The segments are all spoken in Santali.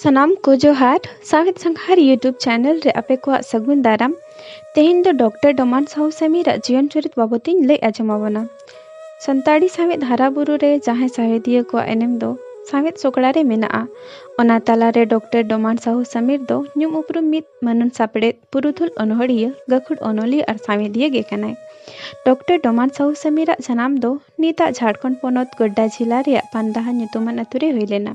ᱥᱟᱱᱟᱢ ᱠᱚ ᱡᱚᱦᱟᱨ ᱥᱟᱶᱦᱮᱫ ᱥᱟᱸᱜᱷᱟᱨ ᱭᱩᱴᱩᱵᱽ ᱪᱮᱱᱮᱞ ᱨᱮ ᱟᱯᱮ ᱠᱚᱣᱟᱜ ᱥᱟᱹᱜᱩᱱ ᱫᱟᱨᱟᱢ ᱛᱮᱦᱮᱧ ᱫᱚ ᱰᱚᱠᱴᱚᱨ ᱰᱚᱢᱟᱱ ᱥᱟᱦᱩ ᱥᱟᱢᱤᱨᱟᱜ ᱡᱤᱭᱚᱱ ᱪᱚᱨᱤᱛ ᱵᱟᱵᱚᱛ ᱤᱧ ᱞᱟᱹᱭ ᱟᱸᱡᱚᱢ ᱟᱵᱚᱱᱟ ᱥᱟᱱᱛᱟᱲᱤ ᱥᱟᱶᱦᱮᱫ ᱦᱟᱨᱟ ᱵᱩᱨᱩ ᱨᱮ ᱡᱟᱦᱟᱸᱭ ᱥᱟᱶᱦᱮᱫᱤᱭᱟᱹ ᱠᱚᱣᱟᱜ ᱮᱱᱮᱢ ᱫᱚ ᱥᱟᱶᱦᱮᱫ ᱥᱚᱠᱲᱟ ᱨᱮ ᱢᱮᱱᱟᱜᱼᱟ ᱚᱱᱟ ᱛᱟᱞᱟ ᱨᱮ ᱰᱚᱠᱴᱚᱨ ᱰᱚᱢᱟᱱ ᱥᱟᱦᱩ ᱥᱟᱢᱤᱨ ᱫᱚ ᱧᱩᱢ ᱩᱯᱨᱩᱢ ᱢᱤᱫ ᱢᱟᱹᱱᱟᱱ ᱥᱟᱯᱲᱮᱫ ᱯᱩᱨᱩᱫᱷᱩᱞ ᱚᱱᱚᱬᱦᱤᱭᱟᱹ, ᱜᱟᱹᱠᱷᱩᱲ ᱚᱱᱚᱞᱤᱭᱟᱹ ᱟᱨ ᱥᱟᱶᱦᱮᱫᱤᱭᱟᱹ ᱜᱮ ᱠᱟᱱᱟᱭ᱾ ᱰᱚᱠᱴᱚᱨ ᱰᱚᱢᱟᱱ ᱥᱟᱦᱩ ᱥᱟᱢᱤᱨ ᱟᱜ ᱡᱟᱱᱟᱢ ᱫᱚ ᱱᱤᱛ ᱟᱜ ᱡᱷᱟᱨᱠᱷᱚᱸᱰ ᱯᱚᱱᱚᱛ ᱜᱳᱰᱰᱟ ᱡᱷᱤᱞᱟ ᱨᱮᱭᱟᱜ ᱯᱟᱱᱫᱟᱦᱟ ᱧᱩᱛᱩᱢᱟᱱ ᱟᱹᱛᱩ ᱨᱮ ᱦᱩᱭ ᱞᱮᱱᱟ᱾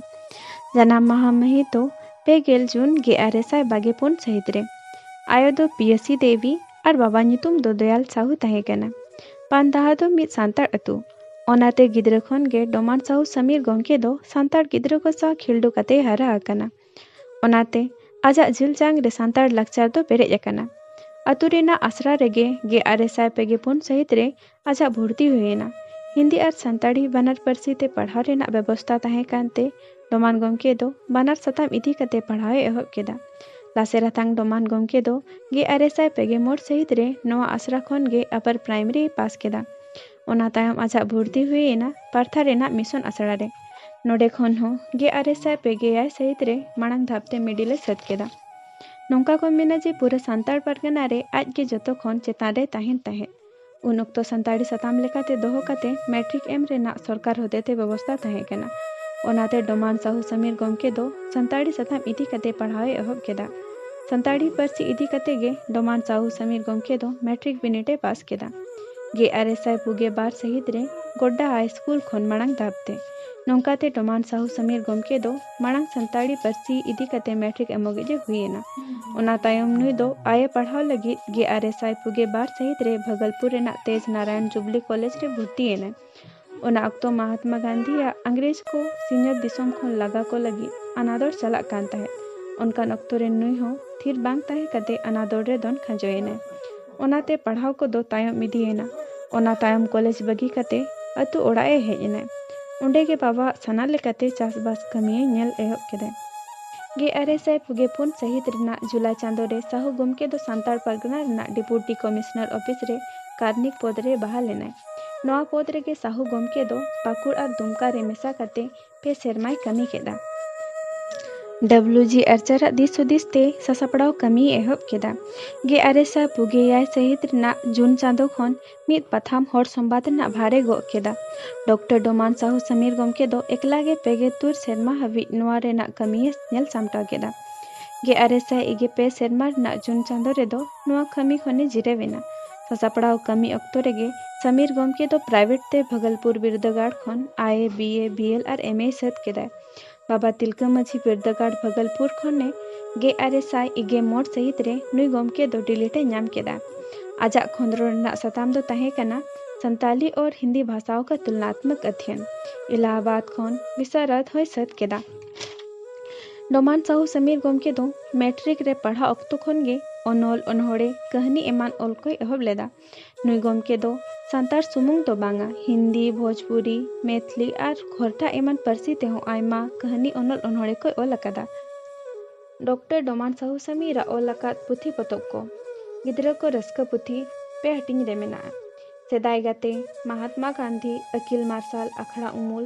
ᱡᱟᱱᱟᱢ ᱢᱟᱦᱟᱸ ᱢᱟᱹᱦᱤᱛ ᱫᱚ ᱯᱮ ᱜᱮᱞ ᱡᱩᱱ ᱜᱮᱼᱟᱨᱮ ᱥᱟᱭ ᱵᱟᱜᱮ ᱯᱩᱱ ᱥᱟᱹᱦᱤᱛ ᱨᱮ᱾ ᱟᱭᱳ ᱫᱚ ᱯᱤᱭᱟᱹᱥᱤ ᱫᱮᱣᱤ ᱟᱨ ᱵᱟᱵᱟ ᱧᱩᱛᱩᱢ ᱫᱚ ᱫᱚᱭᱟᱞ ᱥᱟᱦᱩ ᱛᱟᱦᱮᱸ ᱠᱟᱱᱟ᱾ ᱯᱟᱱᱫᱟᱦᱟ ᱫᱚ ᱢᱤᱫ ᱥᱟᱱᱛᱟᱲ ᱟᱹᱛᱩ᱾ ᱚᱱᱟ ᱛᱮ ᱜᱤᱫᱽᱨᱟᱹ ᱠᱷᱚᱱ ᱜᱮ ᱰᱚᱢᱟᱱ ᱥᱟᱦᱩ ᱥᱟᱢᱤᱨ ᱜᱚᱢᱠᱮ ᱫᱚ ᱥᱟᱱᱛᱟᱲ ᱜᱤᱫᱽᱨᱟᱹ ᱠᱚ ᱥᱟᱶ ᱠᱷᱤᱞᱰᱩ ᱠᱟᱛᱮᱭ ᱦᱟᱨᱟ ᱟᱠᱟᱱᱟ᱾ ᱚᱱᱟᱛᱮ ᱟᱡᱟᱜ ᱡᱤᱞ ᱡᱟᱝ ᱨᱮ ᱥᱟᱱᱛᱟᱲ ᱞᱟᱠᱪᱟᱨ ᱫᱚ ᱯᱮᱨᱮᱡ ᱟᱠᱟᱱᱟ᱾ ᱟᱹᱛᱩ ᱨᱮᱱᱟᱜ ᱟᱥᱲᱟ ᱨᱮᱜᱮ ᱜᱮᱼᱟᱨᱮ ᱥᱟᱭ ᱯᱮᱜᱮ ᱯᱩᱱ ᱥᱟᱹᱦᱤᱛ ᱨᱮ ᱟᱡᱟᱜ ᱵᱷᱩᱨᱛᱤ ᱦᱩᱭ ᱮᱱᱟ᱾ ᱦᱤᱱᱫᱤ ᱟᱨ ᱥᱟᱱᱛᱟᱲᱤ ᱵᱟᱱᱟᱨ ᱯᱟᱹᱨᱥᱤ ᱛᱮ ᱯᱟᱲᱦᱟᱣ ᱨᱮᱱᱟᱜ ᱵᱮᱵᱚᱥᱛᱟ ᱛᱟᱦᱮᱸ ᱠᱟᱱ ᱛᱮ ᱰᱚᱢᱟᱱ ᱜᱚᱢᱠᱮ ᱫᱚ ᱵᱟᱱᱟᱨ ᱥᱟᱛᱟᱢ ᱤᱫᱤ ᱠᱟᱛᱮ ᱯᱟᱲᱦᱟᱣ ᱮ ᱮᱦᱚᱵ ᱠᱮᱫᱟ᱾ ᱞᱟᱥᱮᱨ ᱦᱟᱛᱟᱝ ᱰᱚᱢᱟᱱ ᱜᱚᱢᱠᱮ ᱫᱚ ᱜᱮᱼᱟᱨᱮ ᱥᱟᱭ ᱯᱮᱜᱮ ᱢᱚᱬ ᱥᱟᱹᱦᱤᱛ ᱨᱮ ᱱᱚᱶᱟ ᱟᱥᱲᱟ ᱠᱷᱚᱱ ᱜᱮ ᱟᱯᱟᱨ ᱯᱨᱟᱭᱢᱟᱨᱤ ᱮ ᱯᱟᱥ ᱠᱮᱫᱟ᱾ ᱚᱱᱟ ᱛᱟᱭᱚᱢ ᱟᱡᱟᱜ ᱵᱷᱩᱨᱛᱤ ᱦᱩᱭ ᱮᱱᱟ ᱯᱟᱨᱛᱷᱟ ᱨᱮᱱᱟᱜ ᱢᱤᱥᱚᱱ ᱟᱥᱲᱟ ᱨᱮ᱾ ᱱᱚᱰᱮ ᱠᱷᱚᱱ ᱦᱚᱸ ᱜᱮ ᱟᱨᱮ ᱥᱟᱭ ᱯᱮ ᱜᱮ ᱮᱭᱟᱭ ᱥᱟᱹᱦᱤᱛ ᱨᱮ ᱢᱟᱲᱟᱝ ᱫᱷᱟᱯ ᱛᱮ ᱢᱤᱰᱤᱞ ᱮ ᱥᱟᱹᱛ ᱠᱮᱫᱼᱟ᱾ ᱱᱚᱝᱠᱟ ᱠᱚ ᱢᱮᱱᱟ ᱡᱮ ᱯᱩᱨᱟᱹ ᱥᱟᱱᱛᱟᱲ ᱯᱟᱨᱜᱟᱱᱟ ᱨᱮ ᱟᱡ ᱜᱮ ᱡᱚᱛᱚ ᱠᱷᱚᱱ ᱪᱮᱛᱟᱱ ᱨᱮᱭ ᱛᱟᱦᱮᱸᱱ ᱛᱟᱦᱮᱸᱫ᱾ ᱩᱱ ᱚᱠᱛᱚ ᱥᱟᱱᱛᱟᱲᱤ ᱥᱟᱛᱟᱢ ᱞᱮᱠᱟᱛᱮ ᱫᱚᱦᱚ ᱠᱟᱛᱮ ᱢᱮᱴᱨᱤᱠ ᱮᱢ ᱨᱮᱱᱟᱜ ᱥᱚᱨᱠᱟᱨ ᱦᱚᱛᱮᱛᱮ ᱵᱮᱵᱚᱥᱛᱟ ᱛᱟᱦᱮᱸ ᱠᱟᱱᱟ᱾ ᱚᱱᱟᱛᱮ ᱰᱚᱢᱟᱱ ᱥᱟᱦᱩ ᱥᱟᱢᱤᱨ ᱜᱚᱢᱠᱮ ᱫᱚ ᱥᱟᱱᱛᱟᱲᱤ ᱥᱟᱛᱟᱢ ᱤᱫᱤ ᱠᱟᱛᱮ ᱯᱟᱲᱦᱟᱣ ᱮ ᱮᱦᱚᱵ ᱠᱮᱫᱼᱟ᱾ ᱥᱟᱱᱛᱟᱲᱤ ᱯᱟᱹᱨᱥᱤ ᱤᱫᱤ ᱠᱟᱛᱮ ᱜᱮ ᱰᱚᱢᱟᱱ ᱥᱟᱦᱩ ᱥᱟᱢᱤᱨ ᱜᱚᱢᱠᱮ ᱫᱚ ᱢᱮᱴᱨᱤᱠ ᱵᱤᱱᱤᱰ ᱮ ᱯᱟᱥ ᱠᱮᱫᱼᱟ᱾ ᱜᱮᱟᱨᱮᱥᱟᱭ ᱯᱩᱜᱮ ᱵᱟᱨ ᱥᱟᱹᱦᱤᱛ ᱨᱮ ᱜᱚᱰᱰᱟ ᱦᱟᱭ ᱥᱠᱩᱞ ᱠᱷᱚᱱ ᱢᱟᱬᱟᱝ ᱫᱷᱟᱯ ᱛᱮ᱾ ᱱᱚᱝᱠᱟ ᱛᱮ ᱰᱚᱢᱟᱱ ᱥᱟᱦᱩ ᱥᱟᱢᱤᱨ ᱜᱚᱢᱠᱮ ᱫᱚ ᱢᱟᱬᱟᱝ ᱥᱟᱱᱛᱟᱲᱤ ᱯᱟᱹᱨᱥᱤ ᱤᱫᱤ ᱠᱟᱛᱮ ᱢᱮᱴᱨᱤᱠ ᱮᱢᱚᱜᱤᱡ ᱮ ᱦᱩᱭ ᱮᱱᱟ᱾ ᱚᱱᱟ ᱛᱟᱭᱚᱢ ᱱᱩᱭ ᱫᱚ ᱟᱭᱮ ᱯᱟᱲᱦᱟᱣ ᱞᱟᱹᱜᱤᱫ ᱜᱮᱟᱨᱮᱥᱟᱭ ᱯᱩᱜᱮ ᱵᱟᱨ ᱥᱟᱹᱦᱤᱛ ᱨᱮ ᱵᱷᱟᱜᱚᱞᱯᱩᱨ ᱨᱮᱱᱟᱜ ᱛᱮᱡᱽ ᱱᱟᱨᱟᱭᱚᱱ ᱡᱩᱵᱽᱞᱤ ᱠᱚᱞᱮᱡᱽ ᱨᱮ ᱵᱷᱩᱨᱛᱤ ᱮᱱᱟᱭ᱾ ᱚᱱᱟ ᱚᱠᱛᱚ ᱢᱟᱦᱟᱛᱢᱟ ᱜᱟᱱᱫᱷᱤ ᱟᱜ ᱟᱝᱜᱽᱨᱮᱡᱽ ᱠᱚ ᱥᱤᱧᱚᱛ ᱫᱤᱥᱚᱢ ᱠᱷᱚᱱ ᱞᱟᱜᱟ ᱠᱚ ᱞᱟᱹᱜᱤᱫ ᱟᱱᱟᱫᱚᱲ ᱪᱟᱞᱟᱜ ᱠᱟᱱ ᱛᱟᱦᱮᱸᱫ᱾ ᱚᱱᱠᱟᱱ ᱚᱠᱛᱚ ᱨᱮ ᱱᱩᱭ ᱦᱚᱸ ᱛᱷᱤᱨ ᱵᱟᱝ ᱛᱟᱦᱮᱸ ᱠᱟᱛᱮ ᱟᱱᱟᱫᱚᱲ ᱨᱮ ᱫᱚᱱ ᱠᱷᱟᱸᱡᱚ ᱮᱱᱟᱭ᱾ ᱚᱱᱟ ᱛᱮ ᱯᱟᱲᱦᱟᱣ ᱠᱚ ᱫᱚ ᱛᱟᱭᱚᱢ ᱤᱫᱤ ᱮᱱᱟ᱾ ᱚᱱᱟ ᱛᱟᱭᱚᱢ ᱠᱚᱞᱮᱡᱽ ᱵᱟᱹᱜᱤ ᱠᱟᱛᱮ ᱟᱹᱛᱩ ᱚᱲᱟᱜ ᱮ ᱦᱮᱡ ᱮᱱᱟᱭ᱾ ᱚᱸᱰᱮ ᱜᱮ ᱵᱟᱵᱟ ᱟᱜ ᱥᱟᱱᱟ ᱞᱮᱠᱟᱛᱮ ᱪᱟᱥ ᱵᱟᱥ ᱠᱟᱹᱢᱤ ᱮ ᱧᱮᱞ ᱮᱦᱚᱵ ᱠᱮᱫᱟᱭ᱾ ᱜᱮ ᱟᱨᱮ ᱥᱟᱭ ᱯᱩᱜᱮ ᱯᱩᱱ ᱥᱟᱹᱦᱤᱛ ᱨᱮᱱᱟᱜ ᱡᱩᱞᱟᱭ ᱪᱟᱸᱫᱚ ᱨᱮ ᱥᱟᱦᱩ ᱜᱚᱢᱠᱮ ᱫᱚ ᱥᱟᱱᱛᱟᱲ ᱯᱟᱨᱜᱟᱱᱟ ᱨᱮᱱᱟᱜ ᱰᱮᱯᱩᱴᱤ ᱠᱚᱢᱤᱥᱱᱚᱨ ᱚᱯᱷᱤᱥ ᱨᱮ ᱠᱟᱨᱱᱤᱠ ᱯᱚᱫᱽ ᱨᱮ ᱵᱟᱦᱟᱞ ᱮᱱᱟᱭ᱾ ᱱᱚᱣᱟ ᱯᱚᱫᱽ ᱨᱮᱜᱮ ᱥᱟᱦᱩ ᱜᱚᱢᱠᱮ ᱫᱚ ᱯᱟᱠᱩᱲ ᱟᱨ ᱫᱩᱢᱠᱟ ᱨᱮ ᱢᱮᱥᱟ ᱠᱟᱛᱮ ᱯᱮ ᱥᱮᱨᱢᱟᱭ ᱠᱟᱹᱢᱤ ᱠᱮᱫᱼᱟ᱾ ᱰᱚᱵᱽᱞᱩ ᱡᱤ ᱟᱨᱪᱟᱨ ᱟᱜ ᱫᱤᱥ ᱦᱩᱫᱤᱥ ᱛᱮ ᱥᱟᱥᱟᱯᱲᱟᱣ ᱠᱟᱹᱢᱤᱭ ᱮᱦᱚᱵ ᱠᱮᱫᱼᱟ᱾ ᱜᱮ ᱟᱨᱮ ᱥᱟᱭ ᱯᱩᱜᱮ ᱮᱭᱟᱭ ᱥᱟᱹᱦᱤᱛ ᱨᱮᱱᱟᱜ ᱡᱩᱱ ᱪᱟᱸᱫᱚ ᱠᱷᱚᱱ ᱢᱤᱫ ᱯᱟᱛᱷᱟᱢ ᱦᱚᱲ ᱥᱚᱢᱵᱟᱫᱽ ᱨᱮᱱᱟᱜ ᱵᱷᱟᱨ ᱮ ᱜᱚᱜ ᱠᱮᱫᱼᱟ᱾ ᱰᱚᱠᱴᱚᱨ ᱰᱚᱢᱟᱱ ᱥᱟᱦᱩ ᱥᱟᱢᱤᱨ ᱜᱚᱢᱠᱮ ᱫᱚ ᱮᱠᱞᱟ ᱜᱮ ᱯᱮ ᱜᱮ ᱛᱩᱨ ᱥᱮᱨᱢᱟ ᱦᱟᱹᱵᱤᱡ ᱱᱚᱣᱟ ᱨᱮᱱᱟᱜ ᱠᱟᱹᱢᱤ ᱮ ᱧᱮᱞ ᱥᱟᱢᱴᱟᱣ ᱠᱮᱫᱼᱟ᱾ ᱜᱮ ᱟᱨᱮ ᱥᱟᱭ ᱤᱜᱮ ᱯᱮ ᱥᱮᱨᱢᱟ ᱨᱮᱱᱟᱜ ᱡᱩᱱ ᱪᱟᱸᱫᱚ ᱨᱮᱫᱚ ᱱᱚᱣᱟ ᱠᱟᱹᱢᱤ ᱠᱷᱚᱱᱮ ᱡᱤᱨᱟᱹᱣ ᱮᱱᱟ᱾ ᱥᱟᱥᱟᱯᱲᱟᱣ ᱠᱟᱹᱢᱤ ᱚᱠᱛᱚ ᱨᱮᱜᱮ ᱥᱟᱢᱤᱨ ᱜᱚᱢᱠᱮ ᱫᱚ ᱯᱨᱟᱭᱵᱷᱮᱴ ᱛᱮ ᱵᱷᱟᱜᱚᱞᱯᱩᱨ ᱵᱤᱨᱫᱟᱹᱜᱟᱲ ᱠᱷᱚᱱ ᱟᱭᱮ, ᱵᱤᱭᱮ, ᱵᱤᱭᱮᱞ ᱟᱨ ᱮᱢᱮᱭ ᱥᱟᱹᱛ ᱠᱮᱫᱟᱭ᱾ ᱵᱟᱵᱟ ᱛᱤᱞᱠᱟᱹ ᱢᱟᱹᱡᱷᱤ ᱵᱤᱨᱫᱟᱹᱜᱟᱲ ᱵᱷᱟᱜᱚᱞᱯᱩᱨ ᱠᱷᱚᱱᱮ ᱜᱮᱼᱟᱨᱮ ᱥᱟᱭ ᱤᱜᱮ ᱢᱚᱬ ᱥᱟᱹᱦᱤᱛ ᱨᱮ ᱱᱩᱭ ᱜᱚᱢᱠᱮ ᱫᱚ ᱰᱤᱞᱤᱴ ᱮ ᱧᱟᱢ ᱠᱮᱫᱼᱟ᱾ ᱟᱡᱟᱜ ᱠᱷᱚᱸᱫᱽᱨᱚᱱ ᱨᱮᱱᱟᱜ ᱥᱟᱛᱟᱢ ᱫᱚ ᱛᱟᱦᱮᱸ ᱠᱟᱱᱟ ᱥᱟᱱᱛᱟᱞᱤ ᱚᱨ ᱦᱤᱱᱫᱤ ᱵᱷᱟᱥᱟᱣᱚ ᱠᱟ ᱛᱩᱞᱱᱟᱛᱢᱚᱠ ᱟᱫᱷᱭᱚᱱ᱾ ᱤᱞᱟᱦᱟᱵᱟᱫᱽ ᱠᱷᱚᱱ ᱵᱤᱥᱟᱨᱚᱫᱽ ᱦᱚᱸᱭ ᱥᱟᱹᱛ ᱠᱮᱫᱼᱟ᱾ ᱰᱚᱢᱟᱱ ᱥᱟᱦᱩ ᱥᱟᱢᱤᱨ ᱜᱚᱢᱠᱮ ᱫᱚ᱾ ᱢᱮᱴᱨᱤᱠ ᱨᱮ ᱯᱟᱲᱦᱟᱜ ᱚᱠᱛᱚ ᱠᱷᱚᱱ ᱜᱮ ᱚᱱᱚᱞ, ᱚᱱᱚᱬᱦᱮ, ᱠᱟᱹᱦᱱᱤ ᱮᱢᱟᱱ ᱚᱞ ᱠᱚᱭ ᱮᱦᱚᱵ ᱞᱮᱫᱼᱟ᱾ ᱱᱩᱭ ᱜᱚᱢᱠᱮ ᱫᱚ ᱥᱟᱱᱛᱟᱲ ᱥᱩᱢᱩᱝ ᱫᱚ ᱵᱟᱝᱼᱟ, ᱦᱤᱱᱫᱤ, ᱵᱷᱚᱡᱽᱯᱩᱨᱤ, ᱢᱮᱭᱛᱷᱞᱤ ᱟᱨ ᱠᱷᱚᱨᱴᱷᱟ ᱮᱢᱟᱱ ᱯᱟᱹᱨᱥᱤ ᱛᱮ ᱦᱚᱸ ᱟᱭᱢᱟ ᱠᱟᱹᱦᱱᱤ, ᱚᱱᱚᱞ, ᱚᱱᱚᱬᱦᱮ ᱠᱚᱭ ᱚᱞ ᱟᱠᱟᱫᱼᱟ᱾ ᱰᱚᱠᱴᱚᱨ ᱰᱚᱢᱟᱱ ᱥᱟᱦᱩ ᱥᱟᱢᱤᱨ ᱟᱜ ᱚᱞ ᱟᱠᱟᱫ ᱯᱩᱛᱷᱤ ᱯᱚᱛᱚᱵ ᱠᱚ᱾ ᱜᱤᱫᱽᱨᱟᱹ ᱠᱚ ᱨᱟᱹᱥᱠᱟᱹ ᱯᱩᱛᱷᱤ ᱯᱮ ᱦᱟᱹᱴᱤᱧ ᱨᱮ ᱢᱮᱱᱟᱜᱼᱟ, ᱥᱮᱫᱟᱭ ᱜᱟᱛᱮ, ᱢᱟᱦᱟᱛᱢᱟ ᱜᱟᱱᱫᱷᱤ, ᱟᱹᱠᱤᱞ ᱢᱟᱨᱥᱟᱞ, ᱟᱠᱷᱲᱟ ᱩᱢᱩᱞ᱾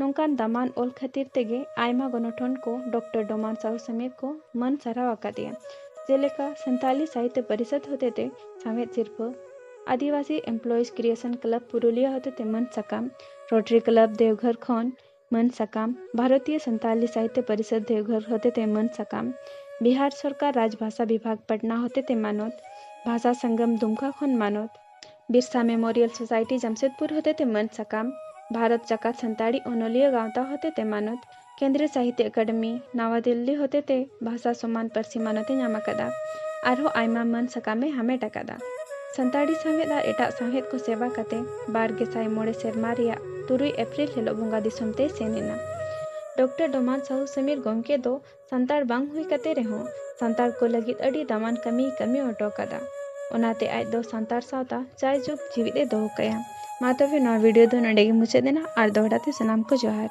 ᱱᱚᱝᱠᱟᱱ ᱫᱟᱢᱟᱱ ᱚᱞ ᱠᱷᱟᱹᱛᱤᱨ ᱛᱮᱜᱮ ᱟᱭᱢᱟ ᱜᱚᱱᱚᱴᱷᱚᱱ ᱠᱚ ᱰᱚᱠᱴᱚᱨ ᱰᱚᱢᱟᱱ ᱥᱟᱦᱩ ᱥᱟᱢᱮᱛ ᱠᱚ ᱢᱟᱹᱱ ᱥᱟᱨᱦᱟᱣ ᱟᱠᱟᱫᱮᱭᱟ᱾ ᱡᱮᱞᱮᱠᱟ ᱥᱟᱱᱛᱟᱞᱤ ᱥᱟᱦᱤᱛᱭᱚ ᱯᱚᱨᱤᱥᱚᱫᱽ ᱦᱚᱛᱮᱛᱮ ᱥᱟᱶᱦᱮᱫ ᱥᱤᱨᱯᱷᱟᱹ, Adivasi employees recreation club Purulia ᱦᱚᱛᱮᱛᱮ ᱢᱟᱹᱱ ᱥᱟᱠᱟᱢ, ᱨᱚᱴᱨᱤ ᱠᱞᱟᱵᱽ ᱫᱮᱣᱜᱷᱚᱨ ᱠᱷᱚᱱ ᱢᱟᱹᱱ ᱥᱟᱠᱟᱢ, ᱵᱷᱟᱨᱚᱛᱤᱭᱚ ᱥᱟᱱᱛᱟᱞᱤ ᱥᱟᱦᱤᱛᱭᱚ ᱯᱚᱨᱤᱥᱚᱫᱽ ᱫᱮᱣᱜᱷᱚᱨ ᱦᱚᱛᱮᱛᱮ ᱢᱟᱹᱱ ᱥᱟᱠᱟᱢ, ᱵᱤᱦᱟᱨ ᱥᱚᱨᱠᱟᱨ ᱨᱟᱡᱽᱵᱷᱟᱥᱟ ᱵᱤᱵᱷᱟᱜᱽ ᱯᱟᱴᱱᱟ ᱦᱚᱛᱮᱛᱮ ᱢᱟᱱᱚᱛ, ᱵᱷᱟᱥᱟ ᱥᱚᱝᱜᱚᱢ ᱫᱩᱢᱠᱟ ᱠᱷᱚᱱ ᱢᱟᱱᱚᱛ, ᱵᱤᱨᱥᱟ ᱢᱮᱢᱳᱨᱤᱭᱟᱞ ᱥᱳᱥᱟᱭᱴᱤ ᱡᱟᱢᱥᱮᱫᱽᱯᱩᱨ ᱦᱚᱛᱮᱛᱮ ᱢᱟᱹᱱ ᱥᱟᱠᱟᱢ, ᱵᱷᱟᱨᱚᱛ ᱡᱟᱠᱟᱛ ᱥᱟᱱᱛᱟᱲᱤ ᱚᱱᱚᱞᱤᱭᱟᱹ ᱜᱟᱶᱛᱟ ᱦᱚᱛᱮᱛᱮ ᱢᱟᱱᱚᱛ, ᱠᱮᱱᱫᱽᱨᱤᱭᱚ ᱥᱟᱦᱤᱛᱭᱚ ᱟᱠᱟᱰᱮᱢᱤ, ᱱᱟᱣᱟ ᱫᱤᱞᱞᱤ ᱦᱚᱛᱮᱛᱮ ᱵᱷᱟᱥᱟ ᱥᱚᱢᱟᱱ ᱯᱟᱹᱨᱥᱤ ᱢᱟᱱᱚᱛ ᱮ ᱧᱟᱢ ᱟᱠᱟᱫᱼᱟ ᱟᱨᱦᱚᱸ ᱟᱭᱢᱟ ᱢᱟᱹᱱ ᱥᱟᱠᱟᱢ ᱮ ᱦᱟᱢᱮᱴ ᱟᱠᱟᱫᱼᱟ᱾ ᱥᱟᱱᱛᱟᱲᱤ ᱥᱟᱶᱦᱮᱫ ᱟᱨ ᱮᱴᱟᱜ ᱥᱟᱶᱦᱮᱫ ᱠᱚ ᱥᱮᱵᱟ ᱠᱟᱛᱮ ᱵᱟᱨ ᱜᱮᱥᱟᱭ ᱢᱚᱬᱮ ᱥᱮᱨᱢᱟ ᱨᱮᱭᱟᱜ ᱛᱩᱨᱩᱭ ᱮᱯᱨᱤᱞ ᱦᱤᱞᱚᱜ ᱵᱚᱸᱜᱟ ᱫᱤᱥᱚᱢ ᱛᱮᱭ ᱥᱮᱱ ᱮᱱᱟ᱾ ᱰᱚᱠᱴᱚᱨ ᱰᱚᱢᱟᱱ ᱥᱟᱦᱩ ᱥᱚᱢᱤᱨ ᱜᱚᱢᱠᱮ ᱫᱚ ᱥᱟᱱᱛᱟᱲ ᱵᱟᱝ ᱦᱩᱭ ᱠᱟᱛᱮ ᱨᱮᱦᱚᱸ ᱥᱟᱱᱛᱟᱲ ᱠᱚ ᱞᱟᱹᱜᱤᱫ ᱟᱹᱰᱤ ᱫᱟᱢᱟᱱ ᱠᱟᱹᱢᱤᱭ ᱠᱟᱹᱢᱤ ᱦᱚᱴᱚ ᱠᱟᱫᱟ ᱚᱱᱟᱛᱮ ᱟᱡ ᱫᱚ ᱥᱟᱱᱛᱟᱲ ᱥᱟᱶᱛᱟ ᱡᱟᱭ ᱡᱩᱜᱽ ᱡᱤᱣᱤᱫ ᱮ ᱫᱚᱦᱚ ᱠᱟᱭᱟ ᱢᱟ ᱛᱚᱵᱮ ᱱᱚᱣᱟ ᱵᱷᱤᱰᱤᱭᱳ ᱫᱚ ᱱᱚᱰᱮ ᱜᱮ ᱢᱩᱪᱟᱹᱫ ᱮᱱᱟ ᱟᱨ ᱫᱚᱦᱲᱟ ᱛᱮ ᱥᱟᱱᱟᱢ ᱠᱚ ᱡᱚᱦᱟᱨ